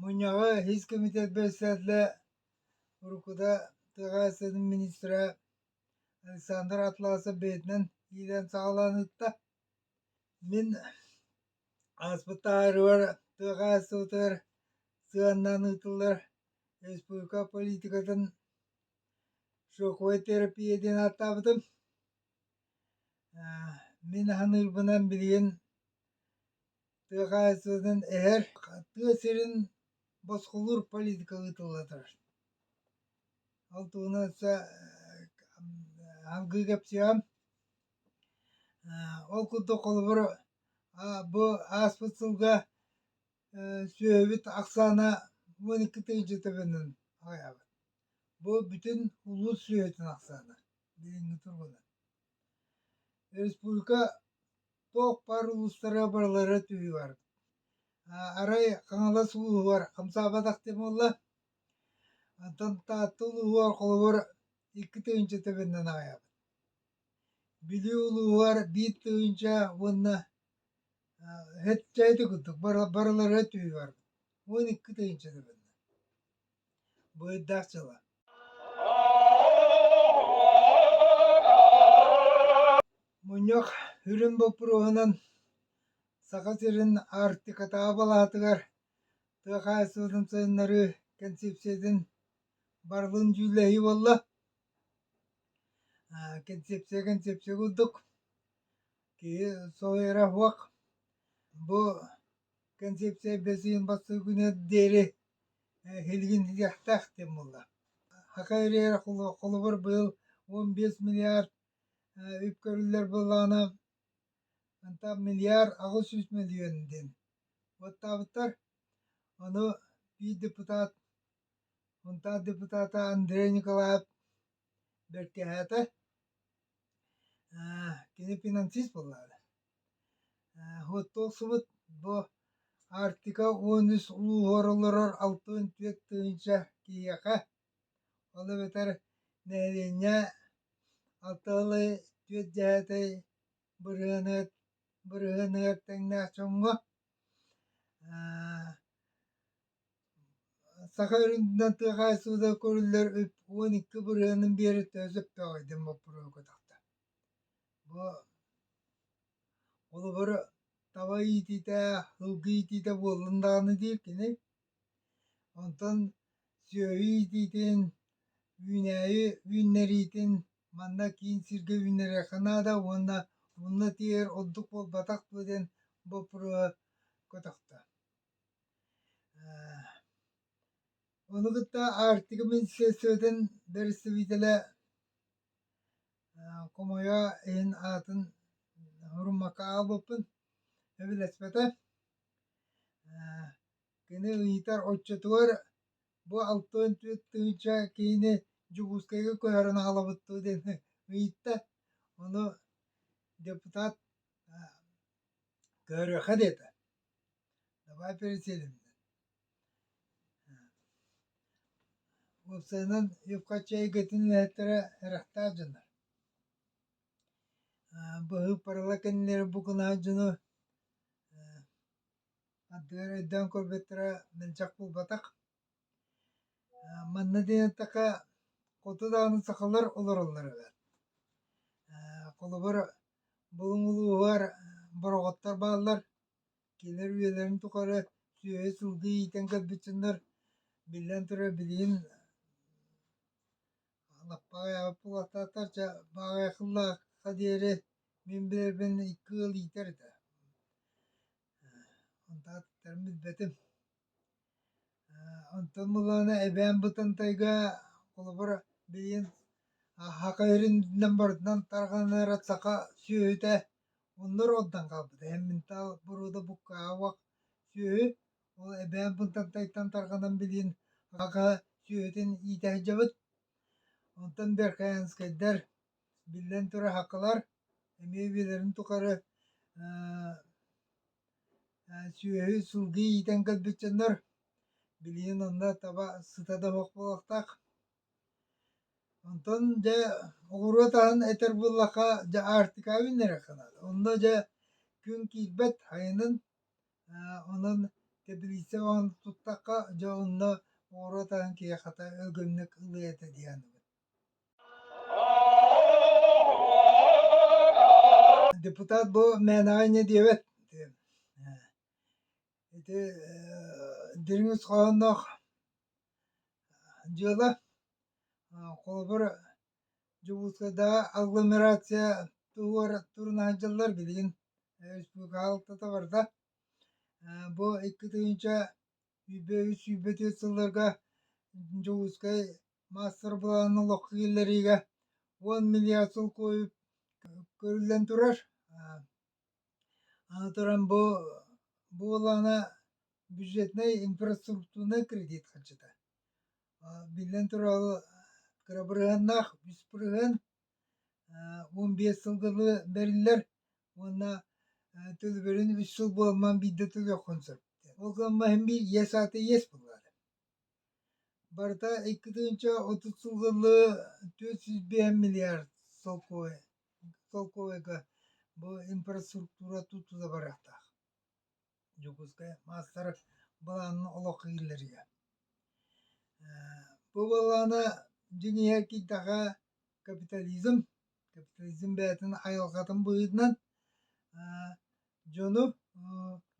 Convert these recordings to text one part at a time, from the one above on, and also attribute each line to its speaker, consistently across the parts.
Speaker 1: Мунньаҕы ис кэмитиэт бэрэссэдээтэлэ, уруккута тыа хаһаайыстыбатын министрэ Александр Атласов бэйэтинэн иилээн саҕалааныттан мин ааспыт ааһарыгар тыа хаһаайыстыбатыгар сыһыаннаан ыытыллар республика политикатын шоковой терапия диэн ааттаабытым. Мин аһыныырбынан билигин тыа хаһаайыстыбатын эһэр тыа сирин босхолуур политика ыытыллатар ол туһунан өссө алгыы кэпсиэм ол курдук холобур бу ааспыт сылга сүөһүбүт ахсаана он икки тыһыынча төбөнөн аҕыйаабыт бу бүтүн улуус сүөһүтүн ахсаана бүгүҥҥү тургунан республика Туохпар улуустары барылара түһүгэр арай Хаҥалас улууһугар хамсаабатах диэн буолла. Онтон Таатта улууһугар холобур икки тыһыынча тэбэннэн аҕайабын. Бүлүү улууһугар биир тыһыынча уонна дьэ ити курдук барылара түһүгэр уон икки тыһыынча тэбэннэ. Бу ыйдаах дьыла мунньах үрүҥ боппуруоһунан Саха сирин Аартыкатааҕы балаатыгар тыа хаһаайыстыбатын сайыннарыы кэнсиэпсийэтин барылын дьүүллэһии буолла. Кэнсиэпсийэ кэнсиэпсийэ курдук Киһи сылыыра суох бу концепция бэсиин бастыыбыныгар диэри билигин диэхтээхтиин буолла. Саха үрээрэ холобур быйыл он биэс миллиард үп көрүллэр буоллаҕына онтон миллиард аҕыс сүүс мөлүйүөн диэн баттаабыттар. Ону биир депутат, мунтаар депутата Андрей Николаев бэркэһээтэ кини финансист буоллаҕына оттулсубут бу Арктика уон үс улууһугар олорор алта уон түөрт тыһыынча киһиэхэ ол эбэтэр нэһилиэнньэ алтыһылы түөрт дьэһэтэй бырыһыныгар бырыһыныгар тэҥнээх дьоҥҥо Саха үрдүнэн тыа хаайсыбыта көрүллэр үп уон икки бырыһыанын биэри төһө сөптөөҕүй диэн боппуруоһу көтөхтө. Бу холобур таба иитиитэ, һылгы иитиитэ буоллун даҕаны диир кини. Онтон сүөһү иитиитин, үүнээйи үүннэриитин манна киин сиргэ үүннэриэххэ наада уонна мунна тиэйэр ордук буолбатах дуо диэн боппуруоһу көтөхтө. Ону кытта Арктика министерствотын бэрэстэбиитэлэ хомойо иһин аатын нуруммакка аҕалбыппын эбилэспэтэ кини ыйытар оччотугар бу алтан түөрт тыһыынча киһини Дьокуускайга көһөрөн аҕалабыт дуо диэн ыйытта ону депутат көрүөххэ диэтэ Давай переселиммин. Уопсайынан үп-харчы эйгэтин үлэһиттэрэ эрэхтээх дьоннор. быһыыппарала кэннилэри букунаах дьону ардыгар өйдөөн көрбөттөрө мэлдьэх буолбатах. манна диэн эттэхэ хоту даҕаны сахалар олороллор эбээт. холобур булуҥ улууһугар бороҕоттор бааллар кинилэр үйэлэрин тухары сүөһү-сылгы иитэн көрбүттүннэр, биллэн турар, билигин лаппа аҕыйаабыт буолуохтаахтар, чэ, бааҕай кыллаахха диэри мин билэрбин икки ыал иитэр этэ. Онтон аттарын билбэтим Онтон мылаана эбээн Бытантайга холобур билигин Хахайрининэн барытынан тарҕаныара саха сүөһүтэ онно ордон хаалбыта эмминтаал боруода буккаабах сүөһү ол эбээн Бытантайтан тарҕанан билигин Хахай сүөһүтүн иитэ сылдьабыт онтон Беркаянскайдар Биллэн турар, хакылар эмиэ үйэлэрин тухары сүөһү сылгы иитэн кэлбит дьоннор билигин онно таба сыта да суох буолуохтаах. Онтон дьэ оҕуруот аһын этэр буоллахха дьэ Аартикаҕа биллэриэххэ наада. Онно дьэ күн киирбэт хайынын онон тэбилииссэ оҥоһун туттахха дьэ онно оҕуруот аһын киһи хата өлгөмнүк ылыа этэ дии саныыбын. Депутат бу мээнэҕэ инньэ диэбэт ити дириҥ хоһоонноох дьыала холобур Дьокуускайдааҕы агломерация туһугар турунаан дьыллар билигин республикаҕа алтата барда бу икки тыһыынча Сүүрбэ-үс, сүүрбэ төрт сылларга Дьокуускай маастар-былаанын олоххо киллэриигэ уон миллиард сыл куойу көрүллэн турар. Аны туран бу буолаана бюджетнай инфраструктурнай кредит харчыта. Биллэн турар кырабырыһыннаах үс бырыһын он биэс сылга бэриллэр уонна төлөбүрүн үс сыл буолман биирдэ төлүөххүн сөп. Ол гынан баран биир иэс аата иэс буолаары. Барыта икки тыһыынча отут сыллы төрт сүүс биэс миллиард солкуобай солкуобайга бу инфраструктура тутула барыахтаах. Дьокуускай маастар былаанын олох киллэрийэ. Бу былаана дьиҥиһэ киирдэхэ капитализм, капитализм бэйэтин айылҕатын быһыытынан дьону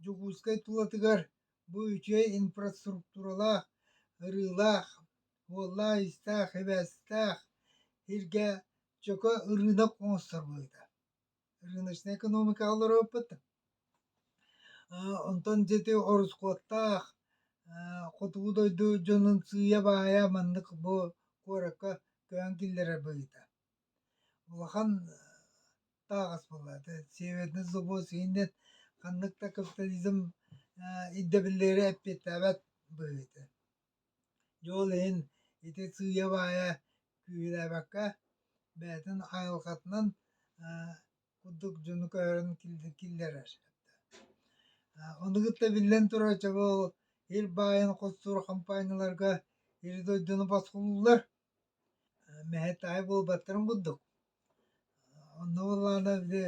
Speaker 1: Дьокуускай тулатыгар бу үчүгэй инфраструктуралаах, ырыылаах, уоллаах-иистээх, сибээстээх сиргэ чөкө ырыынак оҥостор быһыыта. рыночная экономика олороппут. Онтон дьити ороскуоттаах хотугу дойду дьонун сыыйа-баайа маннык бу куоракка көөн киллэрэр быһыыта. Улахан таағас буолаата. Северный собос иһиннен ханнык да капитализм ирдэбиллери эппиэттээбэт быһыыта. Дьол иһин ити сыыйа-баайа күүһүрээбэккэ, бэйэтин хайысхатынан курдук дьону көһөрөн киллэрэр. Ону кытта биллэн турар оччоҕо ол ил баайын хостуур хампаанньаларга ири-дойдуну босхолууллар, мэһэт-таай буолбаттарын курдук. Онно буоллаҕына ити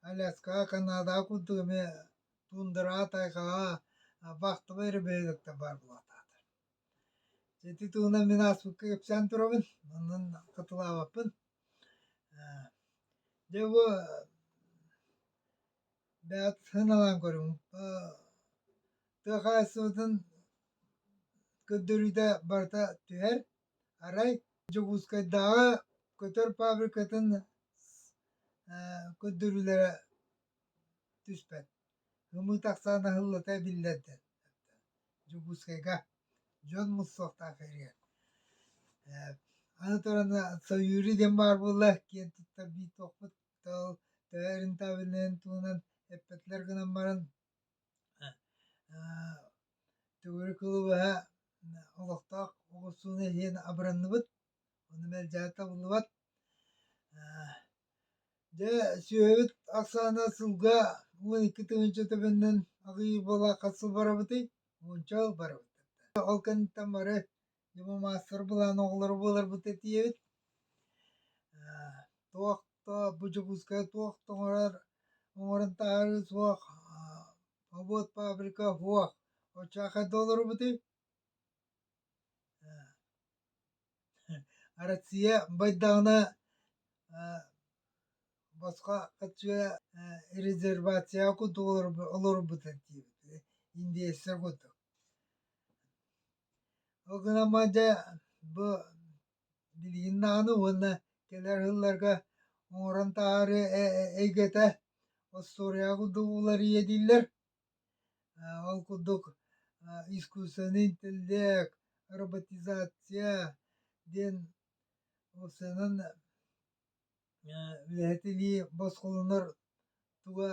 Speaker 1: Аляскаҕа, Канадаҕа курдук эмиэ Туундараа тайхаҕа вахтовай ребенок баар буолатаатар. Ити туунан мин ааспыкка кэпсээн турабын, онон кытылаабаппын. Дьэ бу бэйэт сыаналаан көрүҥ. Тыа хаһаайыстыбатын көрдөрүүтэ барыта түһэр. Арай Дьокуускайдааҕы көтөр фабрикатын көрдөрүүлэрэ түспэт ымыы тахсаан аһыллыта эбиллэрдэр дьокуускайга дьон муссуохтаах эригэр аны туран сойури диэн баар буолла киэн туттар биитуохпут төһө рентабельнайын туһунан эппэтилэр гынан баран төгүрүк кылыбаһа олохтоох оҕурсууну иһин абыранныбыт Ону мэлдьээн табыллыбат. Дьэ, сүөһүбүт ахсаана сылга уон икки тыһыынча төбөннөн аҕыйыыр буола хас сыл барабытый? Уонча сыл барабыттар. Ол кэнниттэн бары дьомо маастар былаан оҕолоро буоларбыт этийэбит. Туох то бу Дьокуускайга туох да оҥорор оҥорон таһаарыы суох обод фабрика суох оччо ханна олоробутуй? Россия байдаҕына босхо көччүө резервацияҕа курдук олорбутун диэбит индеецтэр курдук. Ол гынан баран дьэ бу билигин даҕаны уонна кэлэр сылларга оҥорон таһаарыы эйгэтэ остуоруйаҕа курдук уларыйа дииллэр. Ол курдук искусственный интеллект, роботизация диэн ол сыанан үлэһитилии босхолонор туга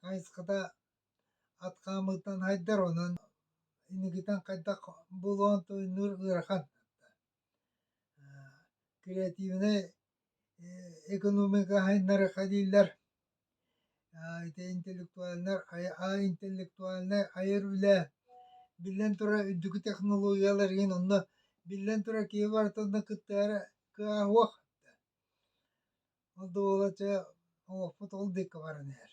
Speaker 1: хайысхата ат хаамыытынан хайдар онон инникитин хайдах буолуон туйунуур ыарахан креативнай экономика хаһайыннара дииллэр ити интеллектуальнай интеллектуальнай айар үлэ биллэн турар үрдүкү технологиялар иһин онно биллэн турар киһи барытын кытта эрэ кыһаһыах ол да буолар дьэ олохпут ол диэки баран иһэр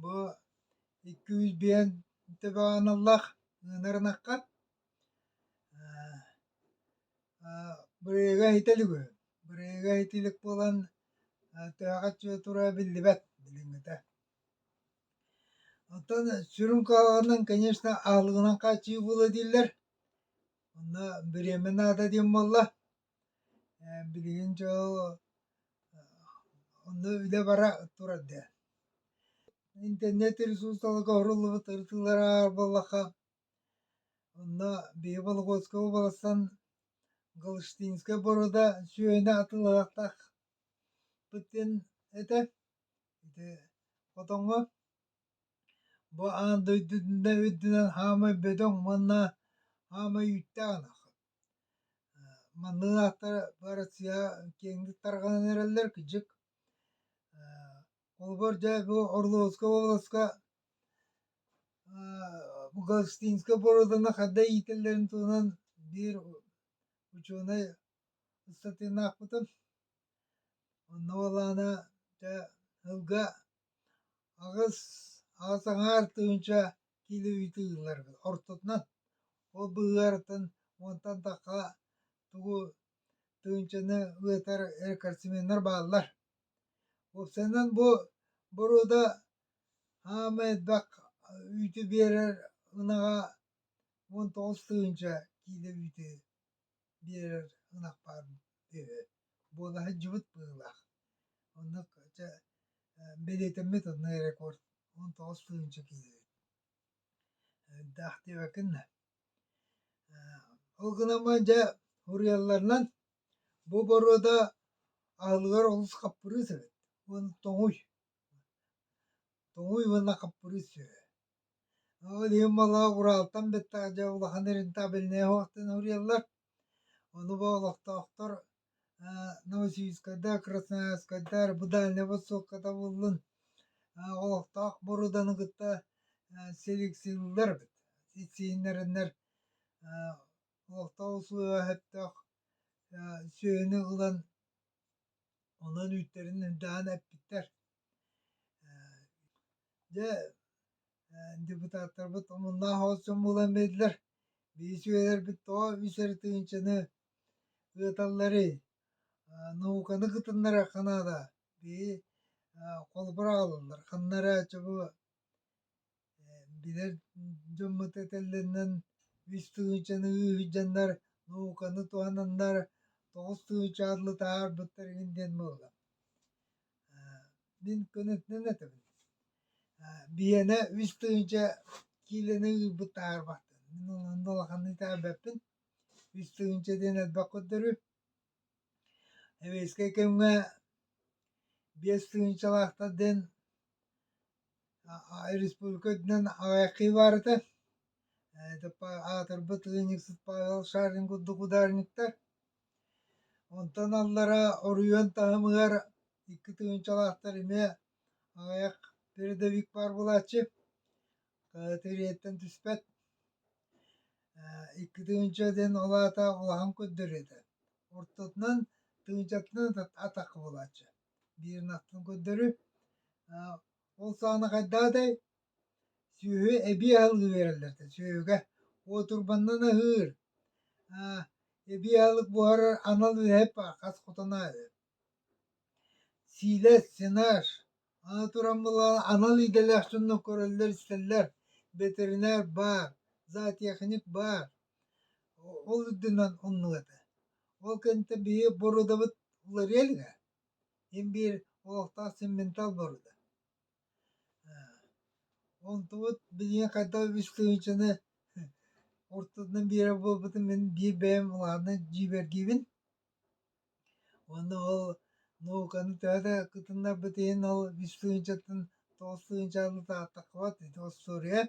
Speaker 1: Бу икки жүз биэс ТВ-аналлаах ыанар ынахха бырайыага иһитэ илик үһү. Бырайыага иһитэ илик буолан тыаҕа чуо тура биллибэт билиҥҥитэ. Оттон сүрүн куһаҕанынан, конечно, аһылыгынан хааччыйыы буолуо дииллэр. Онно бириэмэ наада диэн буолла. Билигин дьыл онно үлэ бара турар даа. Интернет ресурсаларга оһоруллубут ырытыылар буоллахха онно биһиги Вологодскай уобаластан Галштинскай боруода сүөһүнү атыылаһыахтаахпытын этэ. Ити хотоҥҥо бу аан дойдутунан үрдүнэн хаамай бөдөҥ уонна хаамай үүттээх ынах. Маныы ааттара бары сыыһа киэҥник тарҕанан эрэллэр кыдьык холобур дьэ бу Орловскай уобаласка бу Галштинскай боруоданы хайда иитэллэрин туһунан биир учуонай ыстатыйаны аахпытым. Онно ол аана дьэ сылга Аҕыс, аҕыс аҥаар тыһыынча киилэ ыйытыы ылларбыт ортотунан, ол быһыыларыттан уонтан тахха тугу тыһыынчаны ылытар рекордсменнар бааллар. Уопсайынан бу боруода хаама элбэх үүтү биэрэр ынаҕа уон тоҕус тыһыынча киилэ үүтү биэрэр ынах баар үһү. Буола сылдьыбыт быһыылаах. Онно чэ бэлиэтэммит онно рекорд он тоҕус тыһыынча киилэбит. Даах диэбэккиннэ. Ол гынан дьэ уруйалларынан бу боруода аһылыгар олус хаппырыыс эбит уон тоҥуй. Тоҥуй уонна хаппырыыс үһү. Ол иһин малаа Уралтан бэттэх дьэ улахан рентабельнай оһохтон уруйаллар. Ону бу олохтоохтор аа Новосибирскайдар, Красноярскайдар бу Дальнай Востокката буоллун олохтоох бороданы кытта селекционирлар эбит. Итсииннэрэннэр олохтоох усулуобуйа сөптөөх сүөһүнү ылан онон үүттэрин эмтэҕин эппиттэр. Дьэ депутаттарбыт омуннаах оҕус дьон буолан биэрдилэр. Биир үчүгэйдэрбит тоҕо үс эрэ тыһыынчаны ыыталларый? науканы кытыннарыахха наада. Биһи холобур аҕалаллар. Ханна эрэ чобу билэр дьоммут этэллэринэн үс тыһыынчаны ыыһдьаннар науканы туһананнар тоҕус тыһыынча атлы таһаарбыттар игин диэн буолла мин көнөтүнэн этэбин биһиэнэ үс тыһыынча киилэни ыыппыт таһаарбаттар мин онон улаханнык таһаарбаппын үс тыһыынча диэн элбэх көрдөрү Сэбиэскэй кэмҥэ биэс тыһыынчалаахтар диэн республика үрдүнэн аҕайахтыы баар этэ. Аатырбыт ыанньыксыт Павел Шарин курдук ударниктар. Онтон аллара оройуон таһымыгар икки тыһыынчалаахтар эмиэ аҕайах передовик баар буолааччы. Тириэртэн түспэт икки тыынча диэн ол аата улахан көрдөрүөтэ ортотунан тыынчатынан атах буолааччы биир наттан көрдөрү ол саҕана хайдаадай сүөһү эбии аһылыы биэрэллэртэ сүөһүгэ уотурбаннан аһыыр эбии аһылык буһарар анал үөһэ хас хотон аһыыр Сиилэ, сенаж, аны туран буоллаҕына анал идэлээх дьоннор көрөллөр-истэллэр, бэтэринээр баар, зоотехник баар, ол үрдүнэн умнулата. Ол кэнниттэн биһи бородабыт уларыйа илигэ, ин биир олохтоох симментал боруода. Онтубут билиҥҥи хайдах үс тыһыынчаны ортотунан биэрэр буолбутун мин биир бэйэм улаатан дьиибэргиибин. Уонна ол науканы төһө да кытыннарбыт иһин ол үс тыһыынчаттан тоҕус тыһыынчаны сааттаххыт ити остуоруйа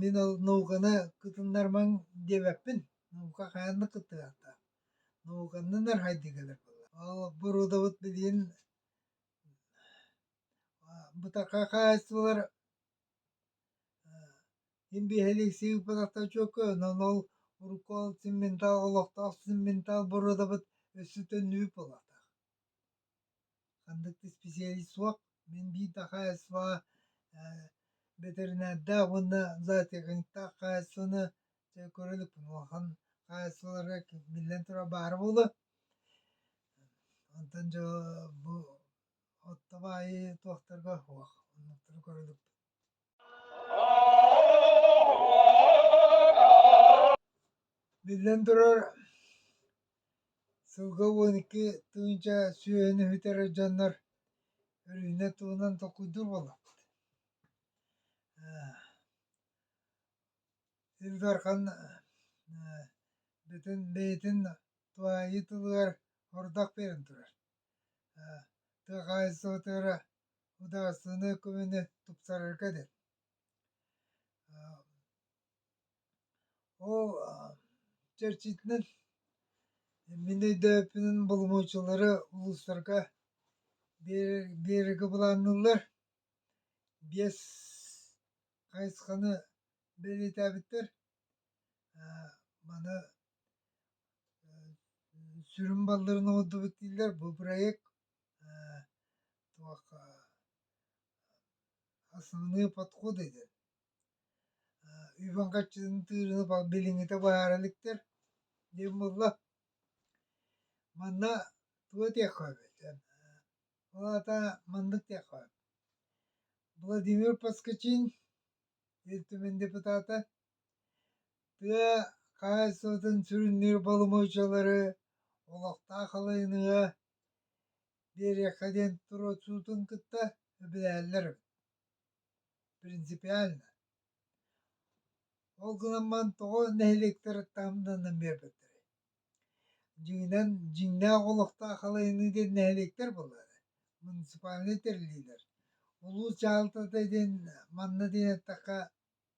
Speaker 1: мин ол науканы кытыннарымаҥ диэбэппин наука хайаан да кыттыһыахтаах науканы нархайдык кэлэр буолла ол боруодабыт билигин бытархай хаһаайыстыбалар Мин биэһэлик сыыппатахтар чөккө, онон ол урукку ол цементал, олохтоох цементал бородабыт өссө төннүбүт буолаатах. Ханнык да специалист суох. Мин биир да хаһаайыстыба бэтэринээрдээх уонна зоотехниктаах хаһаайыстыбаны чэ көрөлүкпүн улахан хаһаайыстыбаларга биллэн турар баара буолуо. Онтон дьэ бу оттоп аайы туохтарга суох, оннуктары көрөлүкпүн Биллэн турар, сылга уон икки тыһыынча сүөһүнү бүтэрэр дьоннор өрүүнэ туһунан толкуйдуур буоллахпыт. Ил Дархан бүтүн бэйэтин туһайыы тылыгар ордук перэн турар. Тыа хаһаайыстыбатыгар Удаарсыыны көмөнү тупсарарга деп. Ол чэрчитинэн мин өйдөөппүнүн боломуочулары улуустарга биэрэргэ былаанныыллар. Биэс хайысханы бэлиэтээбиттэр. Маны сүрүн балларын оҥордубут дииллэр. Бу проект туох основные подходы диэн үбүн хаччытын тыырыны билиҥҥитэ быһаара иликтэр диэн буолла манна туо диэххэ эбит ол аата маннык диэххэ сөп Владимир Поскачин Ил Түмэн депутата тыа хаһаайыстыбатын сүрүннүүр боломуочалары олохтоох халайыныыга Биэриэххэ диэн туруорсуутун кытта эбэлэһэллэр эбит принципиально ол гынан баран тоҕо нэһилиэктэр таһымнанан биэрбэттэрэй дьиҥинэн дьиҥнээх олохтоох халайыныы диэн нэһилиэктэр буоллар муниципальнай тэриллиилэр улуус дьаһалтата диэн манна диэн эттэххэ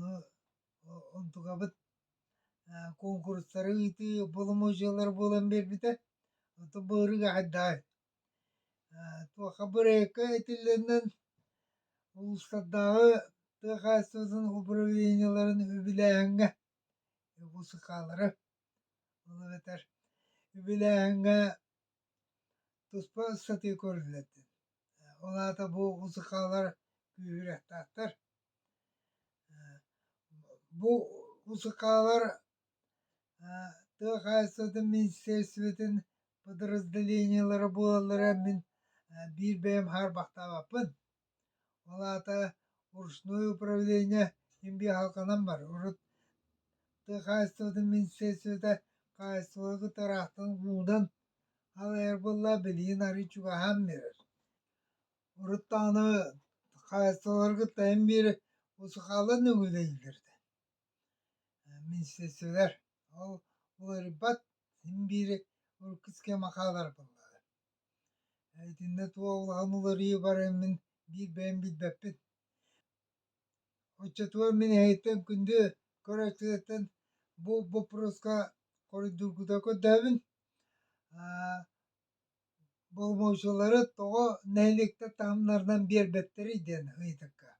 Speaker 1: ну онтукабыт куонкурустары ыытыы боломуочуйалара буолан биэрбитэ оттон былырыын айдаа туохха бырайыакка этиллэннин улуустардааҕы тыа хаһаайыстыбатын управлениеларын үбүлээһиҥҥэ УСК-лары ол эбэтэр үбүлээһиҥҥэ Туспа ыстатыы көрүллэтэ. Ол аата бу усукаалар күүһүрээхтээхтэр. Бу усукаалар тыа хаһаайыстыбатын министерствотын подразделениелара буолаллара мин биир бэйэм хаарбахтаабаппын. Ол аата Уручное управление имбиэ аһылҕанан бар. Урут тыа хаһаайыстыбатын министиэристибэтэ хаһаайыстыбаны кытары аһтан уунан аҕыйар буолла, билигин арыый чугаһаан биэрэр. Урут даҕаны хаһаайыстыбалары кытта эн биэри усукаалан үҥүлэйиллэр этэ. Министиэристибэлэр ол уларыйбат, син биири урукку схема хаалар буоллаҕа. Итиннэ туоллаҕын уларыйа бараммын биир бэйэм билбэппин. Оччотугар мин эһиттэн күндү көрөөччүлэртэн бу боппуруоска хоруйдуургута көрдөөбүн. Боломуочулары тоҕо нэһилиэктэр таһымнарынан биэрбэттэрий диэн ыйытыкка.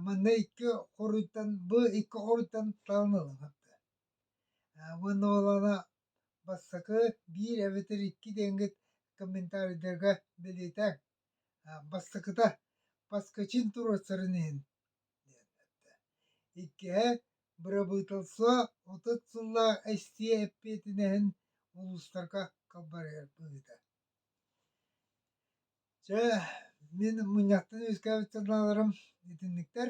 Speaker 1: Манна икки хоруйтан, бу икки хоруйтан талан ылыҥ. Уонна ол аана Бастакы, биир эбэтэр икки дэҥҥит комментарийдарга бэлиэтээн, бастакыта «Баскачин туруорсарын иһин» диэн эттэ. Иккиһэ бырабыыталство отут сыллаах эстиэ эппиэтинэһин улуустарга халбарыгар быһыыта. Чэ, мин мунньахтан үөскээбит санааларым итинниктэр.